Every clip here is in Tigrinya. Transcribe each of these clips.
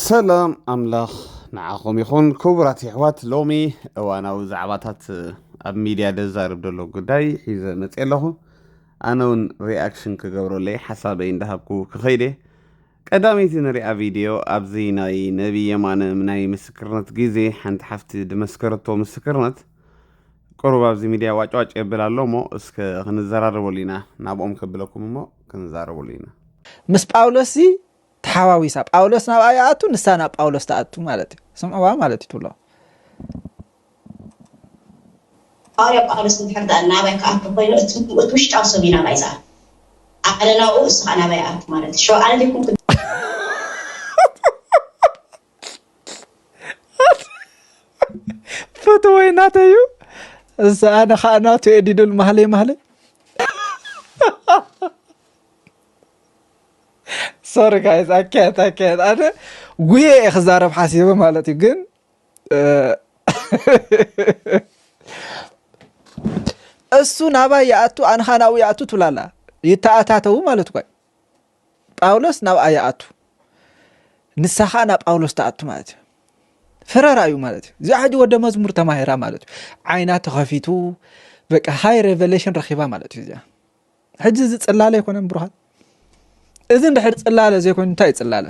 ሰላም ኣምላኽ ንዓኹም ይኹን ክቡራት የሕዋት ሎሚ እዋናዊ ዛዕባታት ኣብ ሚድያ ደዛርብ ዘሎ ጉዳይ ሒዘ መፅእ ኣለኹ ኣነ እውን ሪኣክሽን ክገብረለይ ሓሳበይ እንዳሃብኩ ክኸይደ ቀዳመይቲ ንሪኣ ቪድዮ ኣብዚ ናይ ነቢ የማነ ናይ ምስክርነት ግዜ ሓንቲ ሓፍቲ ድመስከረቶ ምስክርነት ቅሩብ ኣብዚ ሚድያ ዋጭዋጭ የብል ኣሎ እሞ እስከ ክንዘራረበሉ ኢና ናብኦም ከብለኩም እሞ ክንዛረበሉ ኢና ምስ ጳውሎስ ተሓዋዊሳ ጳውሎስ ናብኣ ይኣቱ ንሳ ናብ ጳውሎስ ትኣቱ ማለት እዩ ስምዕዋ ማለት እዩ ትብሎ ሃዋርያ ጳውሎስ እንድሕር ደኣ ናባይ ክኣቱ ኮይኑ እቲ ውሽጣዊ ሰብ እዩ ናባይ ዝኣቱ ኣነ ናብኡ እስኻ ናባይ ኣቱ ማለት እዩ ሸውዓነ ዘይኮንኩ ፈትወይ ናተይ እዩ እዚ ኣነ ከዓ ናቱ ኤዲዱል ማህለይ ማህለይ ሶሪ ጋይዝ ኣካየት ኣካየት ኣነ ጉየ እየ ክዛረብ ሓሲበ ማለት እዩ ግን እሱ ናባይ ይኣቱ ኣንኻ ናብኡ ይኣቱ ትብላላ ይተኣታተዉ ማለት እኳ ጳውሎስ ናብኣ ይኣቱ ንሳ ከዓ ናብ ጳውሎስ ትኣቱ ማለት እዩ ፍረራ እዩ ማለት እዩ እዚኣ ሕጂ ወደ መዝሙር ተማሂራ ማለት እዩ ዓይና ተኸፊቱ በቃ ሃይ ሬቨሌሽን ረኪባ ማለት እዩ እዚኣ ሕጂ እዚ ጽላለ ኣይኮነን ብሩሃን እዚ እንድሕር ጽላለ ዘይኮይኑ እንታይ እዩ ጽላለ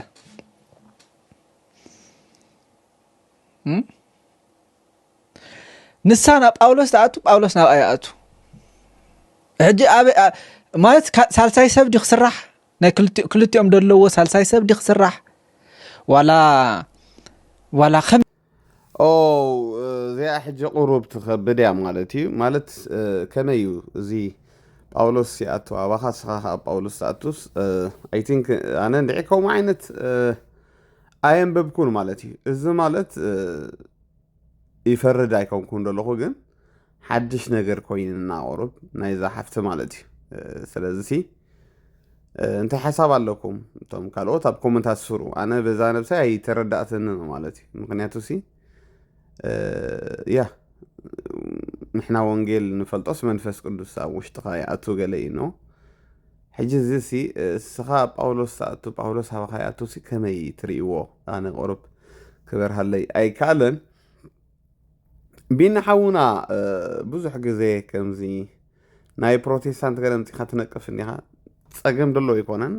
ንሳ ናብ ጳውሎስ ትኣቱ ጳውሎስ ናብ ኣይኣቱ ሕጂ ማለት ሳልሳይ ሰብ ዲ ክስራሕ ናይ ክልቲኦም ዘለዎ ሳልሳይ ሰብ ዲ ክስራሕ ዋላ ዋላ ኦው እዚኣ ሕጂ ቁሩብ ትከብድ እያ ማለት እዩ ማለት ከመይ እዩ እዚ ጳውሎስ ይኣቱ ኣባኻ ንስኻ ከዓ ጳውሎስ ትኣቱስ ኣይ ቲንክ ኣነ እንድዒ ከምኡ ዓይነት ኣየንበብኩን ማለት እዩ እዚ ማለት ይፈርድ ኣይኮንኩን ዘለኹ ግን ሓድሽ ነገር ኮይንና ቁሩብ ናይዛ ሓፍቲ ማለት እዩ ስለዚ ሲ እንታይ ሓሳብ ኣለኩም እቶም ካልኦት ኣብ ኮመንታት ስሩ ኣነ በዛ ነብሳይ ኣይተረዳእትን ማለት እዩ ምክንያቱ ሲ ያ ንሕና ወንጌል ንፈልጦስ መንፈስ ቅዱስ ኣብ ውሽጥኻ ይኣቱ ገለ እዩ ኖ ሕጂ እዚ ሲ እስኻ ጳውሎስ ዝኣቱ ጳውሎስ ሃባኻ ይኣቱ ሲ ከመይ ትርእይዎ ኣነ ቁሩብ ክበርሃለይ ኣይከኣለን ቢኒ ሓውና ብዙሕ ግዜ ከምዚ ናይ ፕሮቴስታንት ገለ ምፂኻ ትነቅፍ እኒኻ ፀገም ደሎ ኣይኮነን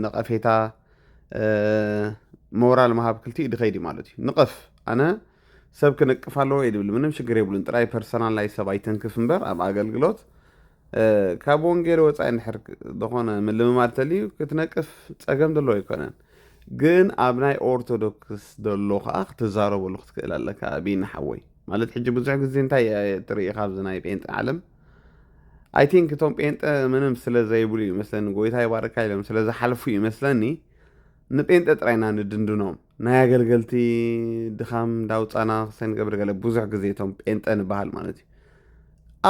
ነቐፌታ ሞራል ምሃብ ክልቲኡ ድኸይድ እዩ ማለት እዩ ንቐፍ ኣነ ሰብ ክንቅፍ ኣለዎ የድብል ምንም ሽግር የብሉን ጥራይ ፐርሰናል ናይ ሰብ ኣይተንክፍ እምበር ኣብ ኣገልግሎት ካብ ወንጌል ወፃኢ ንድሕር ዝኾነ ምልምማድ ተልዩ ክትነቅፍ ፀገም ደሎ ኣይኮነን ግን ኣብ ናይ ኦርቶዶክስ ደሎ ከኣ ክትዛረበሉ ክትክእል ኣለካ ቢኒ ሓወይ ማለት ሕጂ ብዙሕ ግዜ እንታይ ትርኢ ካብዚ ናይ ጴንጤ ዓለም ኣይ ቲንክ እቶም ጴንጠ ምንም ስለ ዘይብሉ እዩ መስለኒ ጎይታ ይባርካ ኢሎም ስለ ዝሓልፉ እዩ መስለኒ ንጴንጠ ጥራይና ንድንድኖም ናይ ኣገልገልቲ ድኻም ዳውፃና ክሰንገብር ገለ ብዙሕ ግዜ እቶም ጴንጠ ንበሃል ማለት እዩ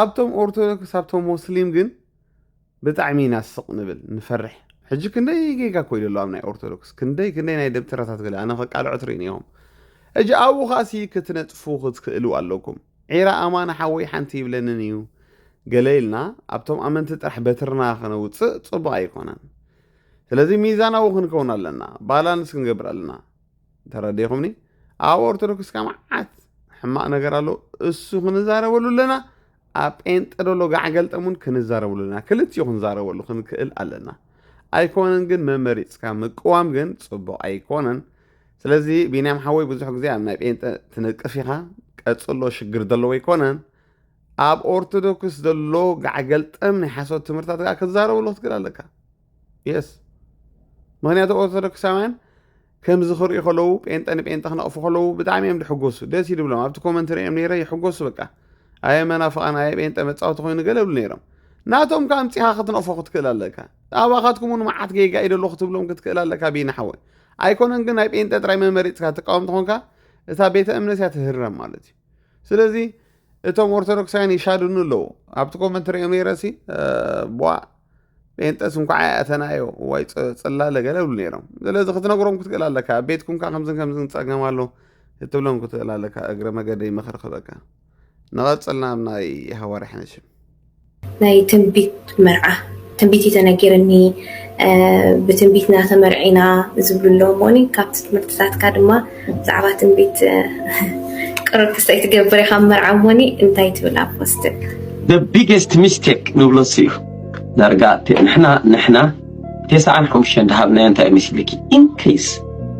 ኣብቶም ኦርቶዶክስ ኣብቶም ሞስሊም ግን ብጣዕሚ ኢና ስቅ ንብል ንፈርሕ ሕጂ ክንደይ ጌጋ ኮይዱ ኣሎ ኣብ ናይ ኦርቶዶክስ ክንደይ ክንደይ ናይ ደብተራታት ገለ ኣነ ከቃልዖ ትሪኢ ኔሮም ሕጂ ኣብኡ ከኣ ሲ ክትነጥፉ ክትክእሉ ኣለኩም ዒራ ኣማን ሓወይ ሓንቲ ይብለንን እዩ ገለ ኢልና ኣብቶም ኣመንቲ ጥራሕ በትርና ከነውጽእ ጽቡቅ ኣይኮነን ስለዚ ሚዛናዊ ክንከውን ኣለና ባላንስ ክንገብር ኣለና ተረዲኹምኒ ኣብ ኦርቶዶክስ ካብ መዓት ሕማቕ ነገር ኣሎ እሱ ክንዛረበሉ ኣለና ኣብ ጴንጠ ደሎ ጋዕገልጠም እውን ክንዛረበሉ ኣለና ክልቲኡ ክንዛረበሉ ክንክእል ኣለና ኣይኮነን ግን መመሪፅካ ምቅዋም ግን ፅቡቕ ኣይኮነን ስለዚ ቢንያም ሓወይ ብዙሕ ግዜ ኣብ ናይ ጴንጠ ትነቅፍ ኢኻ ቀፅሎ ሽግር ዘለዎ ኣይኮነን ኣብ ኦርቶዶክስ ዘሎ ጋዕገልጠም ናይ ሓሶት ትምህርታት ክትዛረበሉ ክትክእል ኣለካ የስ ምክንያቱ ኦርቶዶክሳውያን ከምዚ ክሪኡ ከለዉ ጴንጠ ንጴንጠ ክነቕፉ ከለዉ ብጣዕሚ እዮም ዝሕጎሱ ደስ እዩ ድብሎም ኣብቲ ኮመንት ሪኦም ነይረ ይሕጎሱ በቃ ኣየ መናፍቓን ኣየ ጴንጠ መፃወቲ ኮይኑ ገለ ብሉ ነይሮም ናቶም ከዓ ኣምፂኻ ክትነቕፎ ክትክእል ኣለካ ኣባኻትኩም እውን መዓት ጌጋ እዩ ደሎ ክትብሎም ክትክእል ኣለካ ቢና ሓወይ ኣይኮነን ግን ናይ ጴንጠ ጥራይ መመሪፅካ ትቃወም ተኾንካ እታ ቤተ እምነት እያ ትህረም ማለት እዩ ስለዚ እቶም ኦርቶዶክሳውያን ይሻድኑ ኣለዉ ኣብቲ ኮመንት ሪኦ ነይረ ሲ ቧ ጴንጠስ እንኳዓ ያእተናዮ ዋይ ፅላለ ገለ ብሉ ነይሮም ስለዚ ክትነግሮም ክትክእል ኣለካ ኣብ ቤትኩም ካ ከምዝን ከምዝን ፀገም ኣሎ ክትብሎም ክትክእል ኣለካ እግረ መገደይ ምኽሪ ክበካ ንቐፅል ናብ ናይ ሃዋርያ ሕነሽም ናይ ትንቢት መርዓ ትንቢት እዩ ተነጊርኒ ብትንቢት ኢና ተመርዒና ዝብሉ ኣለዉ እሞኒ ካብቲ ትምህርትታትካ ድማ ብዛዕባ ትንቢት ቅሩብ ክስተይ ትገብር ኢኻ መርዓ እሞኒ እንታይ ትብል ኣብ ፖስትክ the biggest mistake ንብሎ እሱ እዩ ዳርጋ ንሕና ንሕና ቴስዓን ሓሙሽተን ድሃብናዮ እንታይ መሲልኪ ኢንኬስ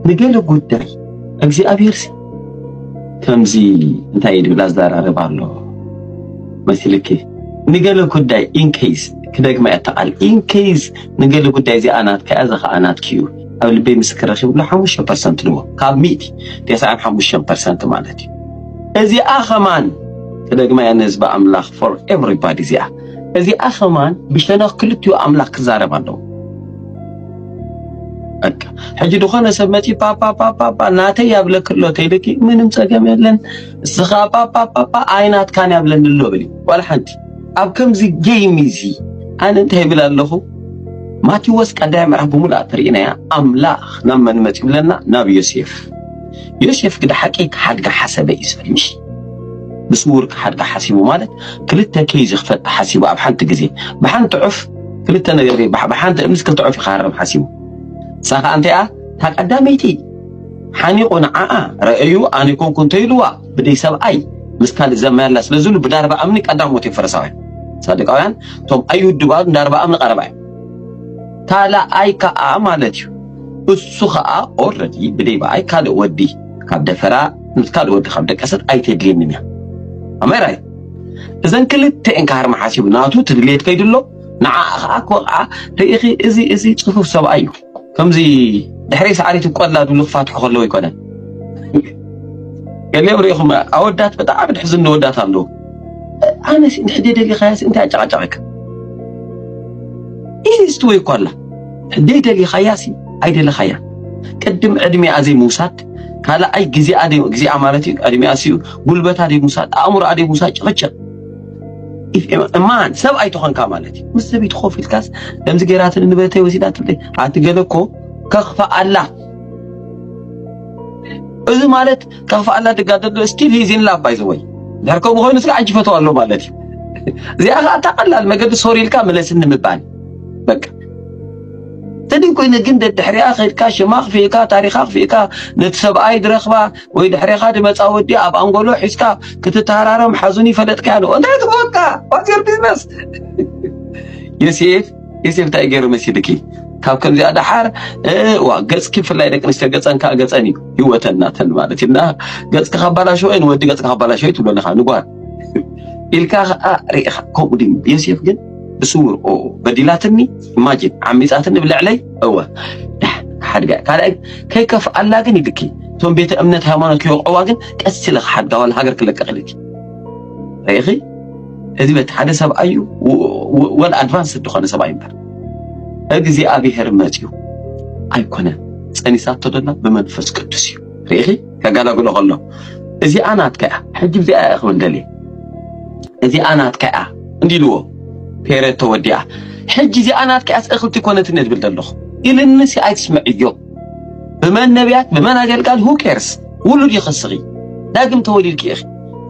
ንገለ ጉዳይ እግዚኣብሔር ሲ ከምዚ እንታይ ድብላ ዘራርብ ኣሎ መሲልኪ ንገለ ጉዳይ ኢንኬስ ክደግማ እያ ተቓል ኢንኬስ ንገለ ጉዳይ እዚኣ ናትካ እያ ዘኸዓ ናትኪ እዩ ኣብ ልበይ ምስክር ረኪብሉ ሓሙሽተ ፐርሰንት ንዎ ካብ ሚእቲ ቴስዓን ሓሙሽተን ፐርሰንት ማለት እዩ እዚኣ ኸማን ክደግማ እያ ንህዝቢ ኣምላኽ ፎር ኤቨሪባዲ እዚኣ እዚኣ ከማን ብሸነኽ ክልቲኡ ኣምላኽ ክዛረብ ኣለዎ። በቃ ሕጂ ዝኾነ ሰብ መጺኡ ፓፓፓፓፓ ናተይ ያብለክ ኣሎ ተይልኪ ምንም ጸገም የለን እስኻ ፓፓፓፓ ኣይናትካን ያብለኒ ኣሎ በሊ ዋላ ሓንቲ ኣብ ከምዚ ጌይም እዚ ኣነ እንታይ ይብል ኣለኹ ማቴዎስ ቀዳይ ምዕራፍ ብምሉኣ ተርእናያ ኣምላኽ ናብ መን መጺኡ ብለና ናብ ዮሴፍ ዮሴፍ ግደ ሓቂ ክሓድጋ ሓሰበ እዩ ዝብል ምሽ ብስውር ክሓድጋ ሓሲቡ ማለት ክልተ ኬዝ ክፈት ሓሲቡ ኣብ ሓንቲ ግዜ ብሓንቲ ዑፍ ክልተ ነገር ብሓንቲ እምስ ክልተ ዑፍ ይኻረም ሓሲቡ ንሳ ከዓ እንተይኣ እታ ቀዳመይቲ ሓኒቑ ንዓኣ ረአዩ ኣነ ኮንኩ እንተይልዋ ብደይ ሰብኣይ ምስ ካልእ ዘመያላ ስለ ዝብሉ ብዳርባ እምኒ ቀዳሞት እዮም ፈረሳውያን ሳድቃውያን እቶም ኣይውድባሉ ዳርባ እምኒ ቀረባ እዩ ካልኣይ ከኣ ማለት እዩ እሱ ከኣ ኦረዲ ብደይ በኣይ ካልእ ወዲ ካብ ደፈራ ምስ ካልእ ወዲ ካብ ደቀሰት ኣይተድልየንን እያ ኣማይ ራይት እዘን ክልተኤን ክሃርማ ሓሲቡ ናቱ ትድልየት ከይዱ ኣሎ ንዓኣ ከዓ ክወቕዓ ርኢኺ እዚ እዚ ፅፉፍ ሰብኣይ እዩ ከምዚ ድሕሪ ሰዓሪት ቆላ ድብሉ ክፋትሑ ከለዉ ኣይኮነን ገሊኦም ርኢኹም ኣወዳት ብጣዕሚ ድሕዝኑ ወዳት ኣለዉ ኣነስ እንድሕር ደይደሊኻያስ እንታይ ኣጨቓጨቐካ? ኢዚ ዝትወይ እኳ ኣላ ደይደሊኻያሲ ኣይደለኻያ ቅድም ዕድሜኣ ዘይምውሳድ ካልኣይ ግዜኣ ግዜኣ ማለት እዩ ዕድሜኣ ሲኡ ጉልበታ ደይምውሳድ ኣእምሮኣ ደይምውሳድ ጭቕጭቕ እማን ሰብ ኣይትኾንካ ማለት እዩ ምስ ሰበይቲ ኮፍ ኢልካስ ከምዚ ገይራትኒ ንብረተይ ወሲዳትለይ ሓንቲ ገለ እኮ ከኽፋ ኣላ እዚ ማለት ጠፋኣላ ድጋ ደዶ ስቲል ሂዝ ኢን ላቭ ባይ ዘ ወይ ድሕር ከምኡ ኮይኑ ስለ ዓጅ ይፈትዋ ኣሎ ማለት እዩ እዚኣ ከዓ እታ ቀላል መገዲ ሶሪ ኢልካ መለስኒ ምባል በቃ ተደይ ኮይነ ግን ደድሕሪያ ከድካ ሽማ ክፍእካ ታሪኻ ክፍእካ ነቲ ሰብኣይ ድረኽባ ወይ ድሕሪኻ ድመፃ ወዲ ኣብ ኣንጎሎ ሒዝካ ክትተሃራረም ሓዙን ይፈለጥካ ያለ እንታይ ትበወካ ዋትር ቢዝነስ የሴፍ ኢሲ እንታይ ገይሩ መሲልኪ ካብ ከምዚኣ ደሓር ዋ ገፅኪ ብፍላይ ደቂ ኣንስትዮ ገፀን ከዓ ገፀን እዩ ህይወተን ናተን ማለት እዩ እና ገፅኪ ካባላሸወ ንወዲ ገፅኪ ካባላሸወ ትብሎ ኣለካ ንጓል ኢልካ ከዓ ርኢኻ ከምኡ ድዩ ዮሴፍ ግን ብስውር በዲላትኒ ኢማጂን ዓሚፃትኒ ብልዕለይ እወ ሓድጋ ካልኣይ ከይከፍኣላ ግን ይልኪ እቶም ቤተ እምነት ሃይማኖት ክወቕዕዋ ግን ቀስ ኢለ ክሓድጋ ዋላ ሃገር ክለቀቕ ኢልኪ ርኢኺ እዝበት ሓደ ሰብኣይ እዩ ወል ኣድቫንስ ዝኾነ ሰብኣይ እምበር እግዚኣብሔር መፅዩ ኣይኮነን ፀኒሳቶ ደላ ብመንፈስ ቅዱስ እዩ ርኢኺ ከጋላግሎ ከሎ እዚኣ ናትካ እያ ሕጂ ብዚኣ እያ ክብል ደልየ እዚኣ ናትካ እያ እንዲ ኢልዎ ፔሬድ ተወዲኣ ሕጂ እዚኣ ናትካ እያስ እኽልቲ ኮነትን እየ ዝብል ዘለኹ ኢልንሲ ኣይትስምዕዮ ብመን ነቢያት ብመን ኣገልጋል ሁ ኬርስ ውሉድ ይኽስኺ ዳግም ተወሊድኪ ኢኺ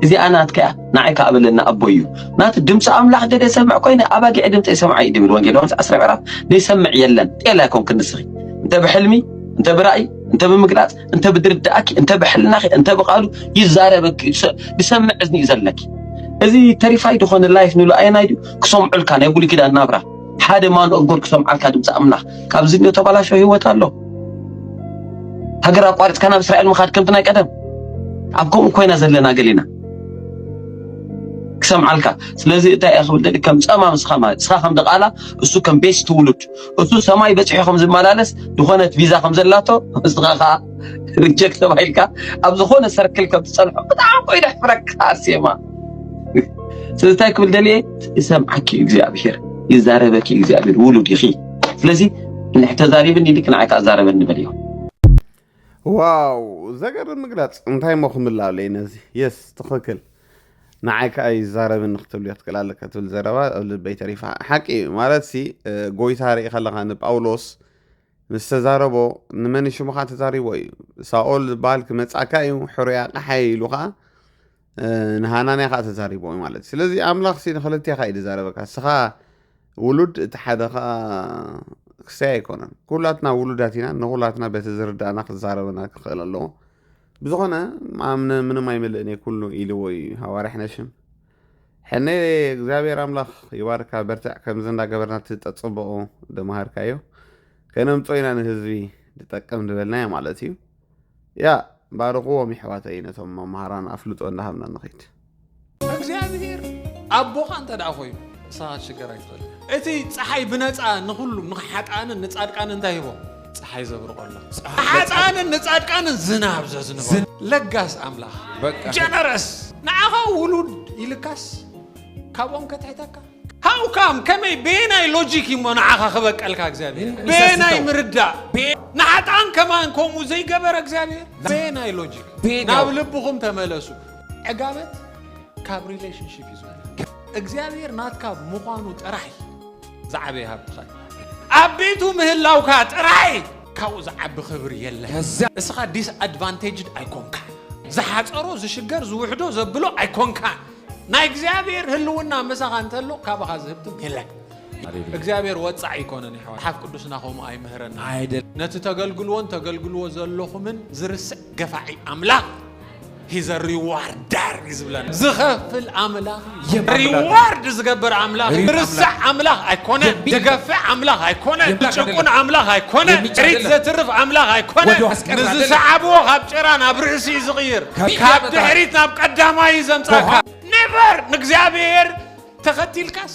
እዚኣ ናትካ እያ ንዓይ ከኣ በለኒ ኣቦይ እዩ ናቱ ድምፂ ኣምላኽ ገለ ይሰምዕ ኮይነ ኣባጊዕ ድምፂ ኣይሰምዓ እዩ ድብል ወንጌል ዮሐንስ ዓስራይ ምዕራፍ ዘይሰምዕ የለን ጤል ኣይኮንክን ንስኺ እንተ ብሕልሚ እንተ ብራእይ እንተ ብምግላፅ እንተ ብድርዳእኪ እንተ ብሕልናኺ እንተ ብቃሉ ይዛረበኪ ዝሰምዕ እዝኒ እዩ ዘለኪ እዚ ተሪፋይ ዝኾነ ላይፍ ንሉ ኣየናይ ድዩ ክሰምዑልካ ናይ ብሉይ ኪዳን ናብራ ሓደ ማኑ እጎር ክሰምዓልካ ድምፂ ኣምላኽ ካብ ዝንዮ ተባላሾ ህይወት ኣሎ ሃገር ኣቋሪፅካ ናብ እስራኤል ምኻድ ከምቲ ናይ ቀደም ኣብ ከምኡ ኮይና ዘለና ገሊና ክሰምዓልካ ስለዚ እንታይ እየ ክብል ደሊ ከም ጸማ ንስኻ ማለት ንስኻ ከም ድቓላ እሱ ከም ቤት ትውሉድ እሱ ሰማይ በጺሑ ከም ዝመላለስ ዝኾነት ቪዛ ከም ዘላቶ ንስኻ ከዓ ሪጀክት ተባሂልካ ኣብ ዝኾነ ሰርክል ከም ትጸንሖ ብጣዕሚ ኮይኑ ሕፍረካ ኣርሴማ ስለዚ እንታይ ክብል ደልየ ይሰምዓኪ እዩ እግዚኣብሄር ይዛረበኪ እዩ እግዚኣብሄር ውሉድ ኢኺ ስለዚ ንሕተዛሪብን ኢልክ ንዓይ ከዓ ዛረበኒ በልዮ ዋው ዘገርም ምግላጽ እንታይ እሞ ክምላለይ ነዚ የስ ትኽክል ንዓይ ከዓ ይዛረብኒ ክትብልዮ ትክእል ኣለካ ትብል ዘረባ ኣብ ልበይ ተሪፋ ሓቂ እዩ ማለት ሲ ጎይታ ርኢ ከለካ ንጳውሎስ ምስ ተዛረቦ ንመን ሽምኻ ተዛሪቦ እዩ ሳኦል ዝበሃል ክመጻካ እዩ ሕሩያ ቃሓይ ኢሉ ከዓ ንሃናንያ ከዓ ተዛሪቦ እዩ ማለት ስለዚ ኣምላኽ ሲ ንክልቴኻ እዩ ዝዛረበካ እስኻ ውሉድ እቲ ሓደ ከዓ ክሰይ ኣይኮነን ኩላትና ውሉዳት ኢና ንኩላትና በቲ ዝርዳእና ክዛረበና ክኽእል ኣለዎ ብዝኾነ ኣምነ ምንም ኣይምልእን እየ ኩሉ ኢልዎ እዩ ሃዋርያ ነሽም ሕነ እግዚኣብሔር ኣምላኽ ይባርካ በርትዕ ከምዚ እንዳገበርና እቲ ጠፅበቑ ደመሃርካዮ ከነምፆ ኢና ንህዝቢ ዝጠቅም ዝበልናዮ ማለት እዩ ያእ ባርኽዎም የሕዋተይ ነቶም መምሃራን ኣፍልጦ እንዳሃብና ንኺድ። እግዚኣብሄር ኣቦኻ እንተ ደኣ ኮይኑ ንስኻ ክትሽገር ኣይትኽእልን። እቲ ጸሓይ ብነጻ ንኹሉ ንሓጥኣንን ንጻድቃንን እንታይ ሂቦ ጸሓይ ዘብርቐሎም ንሓጥኣንን ንጻድቃንን ዝናብ ዘዝንበሉ ለጋስ ኣምላኽ ጀነረስ ንዓኻ ውሉድ ኢልካስ ካብኦም ከትሕተካ How come ከመይ በየናይ ሎጂክ እዩሞ ንዓኻ ክበቀልካ እግዚኣብሔር በየናይ ምርዳእ ንሓጣን ከማን ከምኡ ዘይገበረ እግዚኣብሔር በየናይ ሎጂክ ናብ ልብኹም ተመለሱ ዕጋበት ካብ ሪሌሽንሽፕ እዩ ዝመ እግዚኣብሔር ናትካ ምዃኑ ጥራይ ዝዓበየ ሃብትኻ ኣብ ቤቱ ምህላውካ ጥራይ ካብኡ ዝዓቢ ክብሪ የለ እስኻ ዲስኣድቫንቴጅድ ኣይኮንካ ዝሓፀሮ ዝሽገር ዝውሕዶ ዘብሎ ኣይኮንካ ናይ እግዚኣብሔር ህልውና ምሳኻ እንተሎ ካባኻ ዝህብትም የለን። እግዚኣብሔር ወፃዕ ኣይኮነን ይሕዋ መጽሓፍ ቅዱስና ከምኡ ኣይምህረና ነቲ ተገልግልዎን ተገልግልዎ ዘለኹምን ዝርስዕ ገፋዒ ኣምላኽ ሂዘ ሪዋርዳር እዩ ዝብለና ዝኸፍል ኣምላኽ ሪዋርድ ዝገብር ኣምላኽ ዝርስዕ ኣምላኽ ኣይኮነ ዝገፍዕ ኣምላኽ ኣይኮነ ዝጭቁን ኣምላኽ ኣይኮነ ሪት ዘትርፍ ኣምላኽ ኣይኮነ ንዝሰዓብዎ ካብ ጭራ ናብ ርእሲ እዩ ዝቕይር ካብ ድሕሪት ናብ ቀዳማይ እዩ ዘምጻእካ ኔቨር ንእግዚኣብሔር ተኸቲልካስ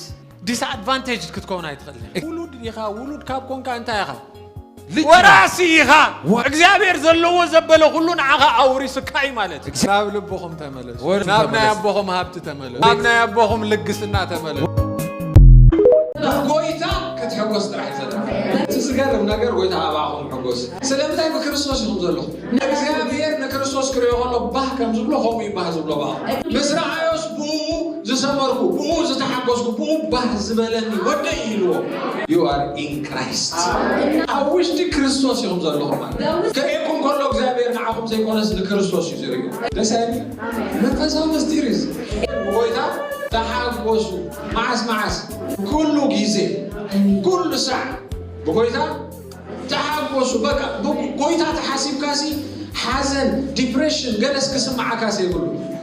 ዲስኣድቫንቴጅ ክትከውን ኣይትኽእልን ኢኻ። ውሉድ ኢኻ ውሉድ ካብ ኮንካ እንታይ ኢኻ ልጅ ወራሲ ኢኻ እግዚኣብሔር ዘለዎ ዘበለ ኩሉ ንዓኻ ኣውሪሱካ እዩ ማለት እዩ እግዚኣብሔር ናብ ልብኹም ተመለሱ ወደ ናብ ናይ ተመለሱ። ኣቦኹም ሃብቲ ተመለሱ ናብ ናይ ኣቦኹም ልግስና ተመለሱ ጎይታ ክትሕጎስ ጥራሕ እዩ ዘድልየካ። እቲ ዝገርም ነገር ጎይታ ኣብኣኹም ሕጎስ ስለምንታይ ብክርስቶስ ኢኹም ዘለኹም ንእግዚኣብሄር ንክርስቶስ ክርእዮ ከሎ ባህ ከም ዝብሎ ከምኡ እዩ ባህ ዝብሎ በኣ ምስ ረኣዮስ ብእኡ ዝሰመርኩ ብእኡ ዝተሓጎስኩ ብኡ ባህ ዝበለኒ ወደይ ኢልዎ ዩ ኣር ኢን ክራይስት ኣብ ውሽጢ ክርስቶስ ኢኹም ዘለኹም ማለት ክርእየኩም ከሎ እግዚኣብሔር ንዓኹም ዘይኮነስ ንክርስቶስ እዩ ዝርእዩ ደስ ኣይብል መንፈሳዊ ምስጢር እዩ ጎይታ ተሓጎሱ መዓስ መዓስ ኩሉ ግዜ ኩሉ ሳዕ ብጎይታ ተሓጎሱ በቃ ብጎይታ ተሓሲብካሲ ሓዘን ዲፕሬሽን ገለስ ክስምዓካ ዘይብሉ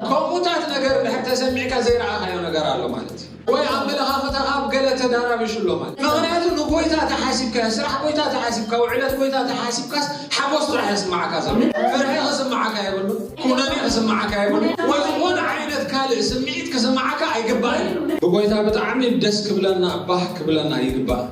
ከምኡታት ነገር ድሕር ተሰሚዕካ ዘይረኣኻዮ ነገር ኣሎ ማለት እዩ ወይ ኣመለኻኽታኻ ኣብ ገለ ተዳራቢሹ ኣሎ ማለት ምክንያቱ ንጎይታ ተሓሲብካ ስራሕ ጎይታ ተሓሲብካ ውዕለት ጎይታ ተሓሲብካስ ሓጎስ ጥራሕ የስማዓካ ዘሎ ፍርሒ ክስማዓካ የብሉ ኩነኔ ክስማዓካ የብሉ ወይ ዝኾነ ዓይነት ካልእ ስምዒት ክስማዓካ ኣይግባእን ብጎይታ ብጣዕሚ ደስ ክብለና ባህ ክብለና ይግባእ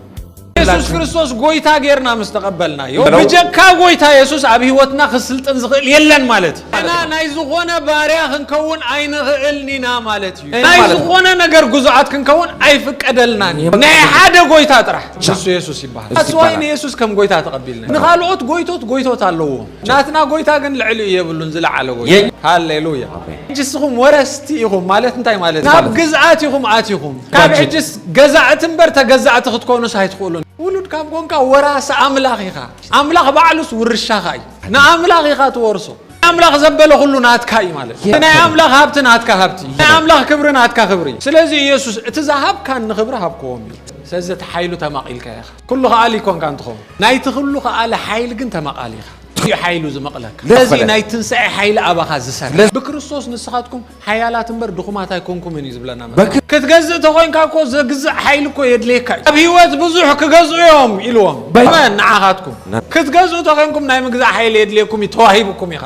የሱስ ክርስቶስ ጎይታ ጌርና ምስ ተቐበልናዮ ብጀካ ጎይታ የሱስ ኣብ ህይወትና ክስልጥን ዝኽእል የለን ማለት እዩ። እና ናይ ዝኾነ ባርያ ክንከውን ኣይንኽእልን ኢና ማለት እዩ። ናይ ዝኾነ ነገር ግዙዓት ክንከውን ኣይፍቀደልናን እዩ። ናይ ሓደ ጎይታ ጥራሕ ንሱ የሱስ ይበሃል። ኣስዋይ ንየሱስ ከም ጎይታ ተቐቢልና ንኻልኦት ጎይቶት ጎይቶት ኣለዎ። ናትና ጎይታ ግን ልዕሊኡ የብሉን ዝለዓለ ጎይታ ሃሌ ሉያ ሕጂ እስኹም ወረስቲ ኢኹም ማለት እንታይ ማለት ናብ ግዝኣት ኢኹም ኣቲኹም ካብ ሕጅስ ገዛእቲ እምበር ተገዛእቲ ክትኮኑስ ኣይትኽእሉን ውሉድ ካብ ኮንካ ወራሲ ኣምላኽ ኢኻ ኣምላኽ ባዕሉስ ውርሻኻ እዩ ንኣምላኽ ኢኻ ትወርሶ ኣምላኽ ዘበለ ኩሉ ናትካ እዩ ማለት እዩ ናይ ኣምላኽ ሃብቲ ናትካ ሃብቲ እዩ ናይ ኣምላኽ ክብሪ ናትካ ክብሪ እዩ ስለዚ ኢየሱስ እቲ ዝሃብካኒ ክብሪ ሃብክዎም እዩ ስለዚ እቲ ሓይሉ ተማቒልካ ኢኻ ኩሉ ከኣሊ ኰንካ እንትኸውን ናይቲ ኩሉ ከኣሊ ሓይሊ ግን ተመቓሊ ኢኻ። እዩ ሓይሉ ዝመቕለካ ስለዚ እዩ ናይ ትንሳኤ ሓይሊ ኣባኻ ዝሰርሕ ብክርስቶስ ንስኻትኩም ሓያላት እምበር ድኹማት ኣይኮንኩምን እዩ ዝብለና መጽሓፍ ክትገዝእ ተኾይንካ እኮ ዘግዝእ ሓይሊ እኮ የድልየካ እዩ ኣብ ህይወት ብዙሕ ክገዝኡ እዮም ኢልዎም መን ንዓኻትኩም ክትገዝኡ ተኾይንኩም ናይ ምግዛእ ሓይሊ የድልየኩም እዩ ተዋሂብኩም ኢኻ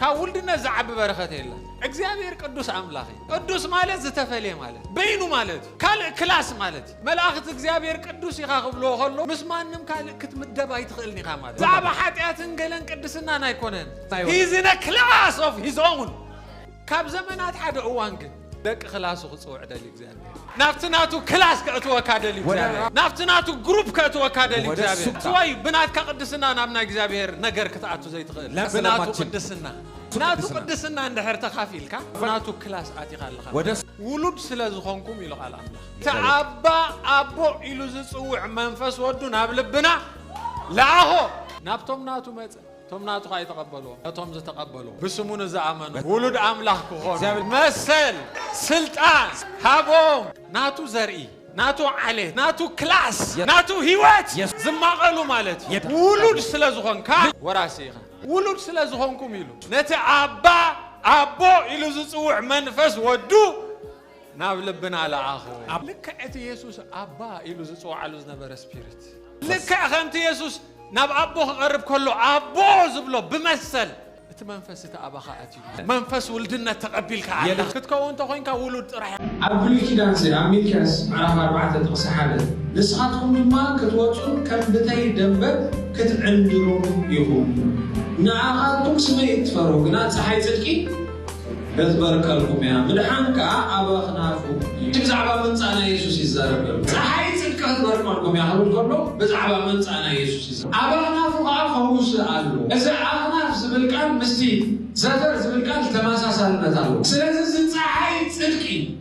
ካብ ውልድነት ዝዓቢ በረኸት የለን። እግዚኣብሔር ቅዱስ ኣምላኽ እዩ። ቅዱስ ማለት ዝተፈልየ ማለት እዩ። በይኑ ማለት እዩ። ካልእ ክላስ ማለት እዩ። መላእኽት እግዚኣብሔር ቅዱስ ኢኻ ክብልዎ ከሎ ምስ ማንም ካልእ ክትምደብ ኣይትኽእልን ኢኻ ማለት እዩ። ብዛዕባ ሓጢኣትን ገለን ቅድስናን ኣይኮነን። He is in a class of his own። ካብ ዘመናት ሓደ እዋን ግን። ደቂ ክላሱ ክጽውዕ ደልዩ እግዚኣብሔር ናብቲ ናቱ ክላስ ከእትወካ ደልዩ እግዚኣብሔር ናብቲ ናቱ ግሩፕ ከእትወካ ደልዩ እግዚኣብሔር ስወይ ብናትካ ቅድስና ናብ ናይ እግዚኣብሔር ነገር ክትኣቱ ዘይትኽእል ብናቱ ቅድስና ናቱ ቅድስና እንድሕር ተኻፊልካ ናቱ ክላስ ኣቲኻ ኣለኻ ውሉድ ስለ ዝኾንኩም ኢሉ ቃል ኣምላኽ እቲ ኣባ ኣቦ ኢሉ ዝጽውዕ መንፈስ ወዱ ናብ ልብና ለኣኾ ናብቶም ናቱ መጸ እቶም ናቱ ኸኣ ኣይተቐበልዎም፣ ነቶም ዝተቐበልዎ ብስሙ ንዝኣመኑ ውሉድ ኣምላኽ ክኾኑ መሰል፣ ስልጣን፣ ሃቦም። ናቱ ዘርኢ፣ ናቱ ዓሌት፣ ናቱ ክላስ፣ ናቱ ህይወት ዝማቐሉ ማለት እዩ። ውሉድ ስለ ዝኾንካ ወራሲ ኢኻ። ውሉድ ስለ ዝኾንኩም ኢሉ ነቲ ኣባ፣ ኣቦ ኢሉ ዝጽውዕ መንፈስ ወዱ፣ ናብ ልብና ለኣኹ። ልክዕ እቲ የሱስ ኣባ ኢሉ ዝጽውዓሉ ዝነበረ ስፒሪት፣ ልክዕ ከምቲ የሱስ ናብ ኣቦ ክቐርብ ከሎ ኣቦ ዝብሎ ብመሰል እቲ መንፈስ እቲ ኣባኻ ኣትዩ፣ መንፈስ ውልድነት ተቐቢልካ ኣለኻ። ክትከውን እንተ ኾይንካ ውሉድ ጥራሕ ኢኻ። ኣብ ብሉይ ኪዳን ዘይ ኣብ ሚልክያስ ምዕራፍ ኣርባዕተ ጥቕሲ ሓደ ንስኻትኩም ድማ ክትወጹን ከም ብተይ ደምበት ክትዕንድሩን ኢኹም ንኣኻትኩም ስመይ እትፈርሁ ግና ጸሓይ ጽድቂ ነበርከልኩምያ ምድሓን ከኣ ኣበኽናኩም እዩ። እቲ ብዛዕባ ምምጻእ ናይ የሱስ ይዛረብ ዘሎ ጸሓይ ጽድቂ ክትበርቀልኩምያ ክብል ከሎ ብዛዕባ ምምጻእ ናይ የሱስ ይዛረብ። ኣበኽናፉ ከኣ ፈውሲ ኣሎ። እዚ ኣኽናፍ ዝብል ቃል ምስቲ ዘፈር ዝብል ቃል ተመሳሳልነት ኣለዎ። ስለዚ እዚ ጸሓይ ጽድቂ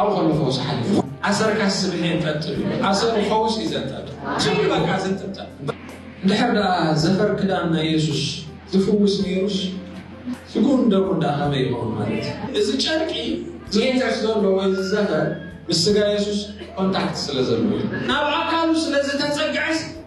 ኣብኡ ከሎ ፈውሲ ሓሊፉ ኣሰርካስ ስብሒ እንጠጥብ እዩ ኣሰሩ ፈውስ እዩ ዘንጠብ ኩሉ በቃ ዝንጥብጠብ እንድሕር ደኣ ዘፈር ክዳን ናይ የሱስ ዝፍውስ ነይሩስ ስግኡን ደሙን ደኣ ከመይ ይኸውን ማለት እዩ እዚ ጨርቂ ዝእንከስ ዘሎ ወይ ዝዘፈር ምስ ስጋ የሱስ ኮንታክት ስለ ዘለዎ ናብ ኣካሉ ስለ ዝተጸግዐስ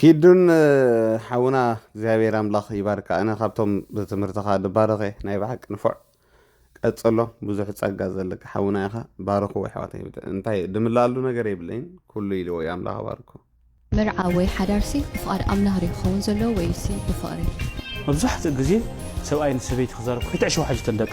ኪዱን ሓውና እግዚኣብሔር ኣምላኽ ይባርካ ኣነ ካብቶም ብትምህርትኻ ድባረኸ ናይ ብሓቂ ንፉዕ ቀጽሎ ብዙሕ ጸጋ ዘለካ ሓውና ኢኻ ባርኹ ኣሕዋተይ እንታይ ድምላኣሉ ነገር የብለይን ኩሉ ኢልዎ እዩ ኣምላኽ ባርኩ መርዓ ወይ ሓዳርሲ ብፍቓድ ኣምላኽ ድዩ ክኸውን ዘለዎ ወይሲ ብፍቕሪ? መብዛሕትኡ ግዜ ሰብኣይ ንሰበይቲ ክዛረብ ክትዕሸው ሓጅተን ደቂ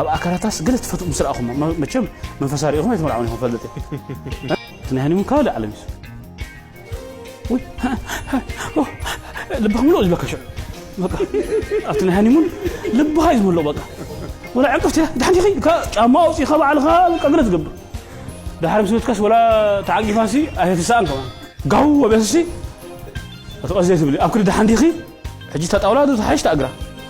ኣብ ኣካላታስ ገለ ትፈትዉ ምስ ረኣኹሞ መቸም መንፈሳ ሪኢኹም ኣይትመርዓዉን ኢኹም ክፈልጥ እየ እቲ ናይ ሃኒሙን ካባሊ ዓለም እዩ ልብኻ ምልኦ ዝብለካ ሽዑ በቃ ኣብቲ ናይ ሃኒሙን ልብኻ እዩ ዝመልኦ በቃ ወላ ዕንቅፍቲ ድሓንቲ ኸይ ጫማ ኣውፂእኻ ባዕልኻ በቃ ገለ ትገብር ድሓር ምስ በትካስ ወላ ተዓቂፋሲ ኣይትስኣን ከማን ጋው ኣቢያስሲ እቲ ቀስ ዘይትብሊ ኣብ ክዲ ድሓን ዲኺ ሕጂ እታ ጣውላ ዶ ትሓይሽ ተኣግራ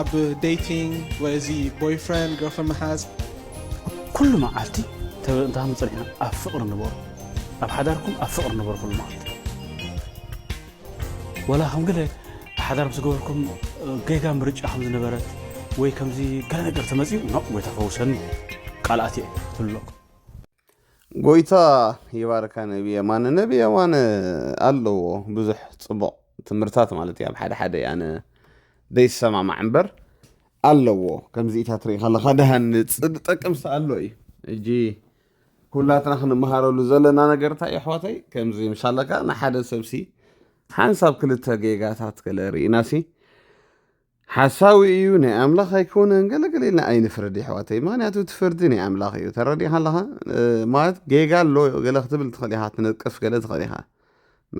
ኣብ ደይቲንግ ወይ እዚ ቦይፍረንድ ገርልፍረንድ ምሓዝ። ኩሉ መዓልቲ ተበእንታ ምጽኒሕና ኣብ ፍቕሪ ንበሩ ኣብ ሓዳርኩም ኣብ ፍቕሪ ንበሩ ኩሉ መዓልቲ ወላ ከም ገለ ሓዳር ምስ ገበርኩም ጌጋ ምርጫ ከም ዝነበረት ወይ ከምዚ ገለ ነገር ተመጺኡ ኖእ ጎይታ ፈውሰኒ ቃልኣት እየ ትብሉ ኣለኩም ጎይታ ይባርካ ነቢ የማነ ነቢ የማነ ኣለዎ ብዙሕ ፅቡቕ ትምህርታት ማለት እዩ ኣብ ሓደ ሓደ ኣነ ዘይሰማማዕ እምበር ኣለዎ ከምዚኢታት ርኢ ከለካ ድሃን ዝጠቅም ኣሎ እዩ እጂ ኩላትና ክንመሃረሉ ዘለና ነገር እንታይ ኣሕዋተይ ከምዚ ምሳለካ ንሓደ ሰብሲ ሓንሳብ ክልተ ጌጋታት ገለ ርኢናሲ ሓሳዊ እዩ ናይ ኣምላኽ ኣይኮነን ገለ ገለ ኢልና ኣይንፍረድ የሕዋተይ ምክንያቱ እቲ ፍርዲ ናይ ኣምላኽ እዩ ተረዲኻ ኣለኻ ማለት ጌጋ ኣሎ ገለ ክትብል ትኽእል ኢኻ ትነቅፍ ገለ ትኽእል ኢኻ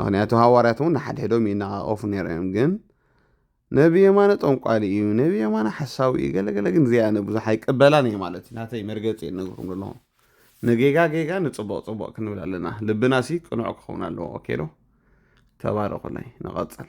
ምክንያቱ ሃዋርያት እውን ንሓድሕዶም ይነቓቐፉ ነይሮም እዮም ግን ነቢ የማነ ጠንቋሊ እዩ ነቢ የማነ ሓሳዊ እዩ ገለገለ ግን እዚኣ ንብዙሕ ኣይቀበላን እየ ማለት እዩ ናተይ መርገፂ እየ ነግርኩም ዘለኹ ንጌጋ ጌጋ ንፅቡቕ ፅቡቕ ክንብል ኣለና ልብና ሲ ቅኑዕ ክኸውን ኣለዎ ኦኬ ዶ ተባረኹለይ ንቐፅል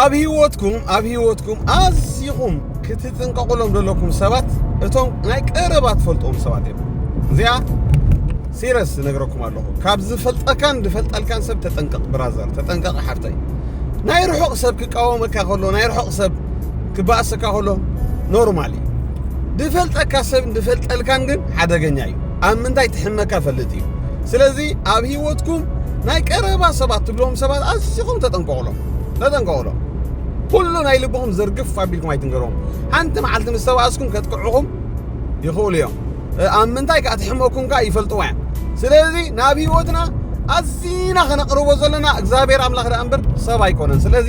ኣብ ህይወትኩም ኣብ ህይወትኩም ኣዝኹም ክትጥንቀቑሎም ዘለኩም ሰባት እቶም ናይ ቀረባ ትፈልጥዎም ሰባት እዮም እዚኣ ሲረስ ዝነግረኩም ኣለኹ ካብ ዝፈልጠካን ዝፈልጠልካን ሰብ ተጠንቀቕ ብራዘር ተጠንቀቕ ሓፍተይ ናይ ርሑቕ ሰብ ክቃወመካ ከሎ ናይ ርሑቕ ሰብ ክባእሰካ ከሎ ኖርማል እዩ ዝፈልጠካ ሰብ ዝፈልጠልካን ግን ሓደገኛ እዩ ኣብ ምንታይ ትሕመካ ፈልጥ እዩ ስለዚ ኣብ ሂወትኩም ናይ ቀረባ ሰባት ትብሎም ሰባት ኣዝኹም ተጠንቀቑሎም ተጠንቀቑሎም ኩሉ ናይ ልብኹም ዘርግፍ ኣቢልኩም ኣይትንገሮም ሓንቲ መዓልቲ ምስ ተባእስኩም ከጥቅዕኹም ይኽእሉ እዮም ኣብ ምንታይ ከዓ ትሕመኩም ከዓ ይፈልጥዎ እዮም ስለዚ ናብ ሂወትና ኣዝና ከነቕርቦ ዘለና እግዚኣብሔር ኣምላኽ ደኣ እምበር ሰብ ኣይኮነን ስለዚ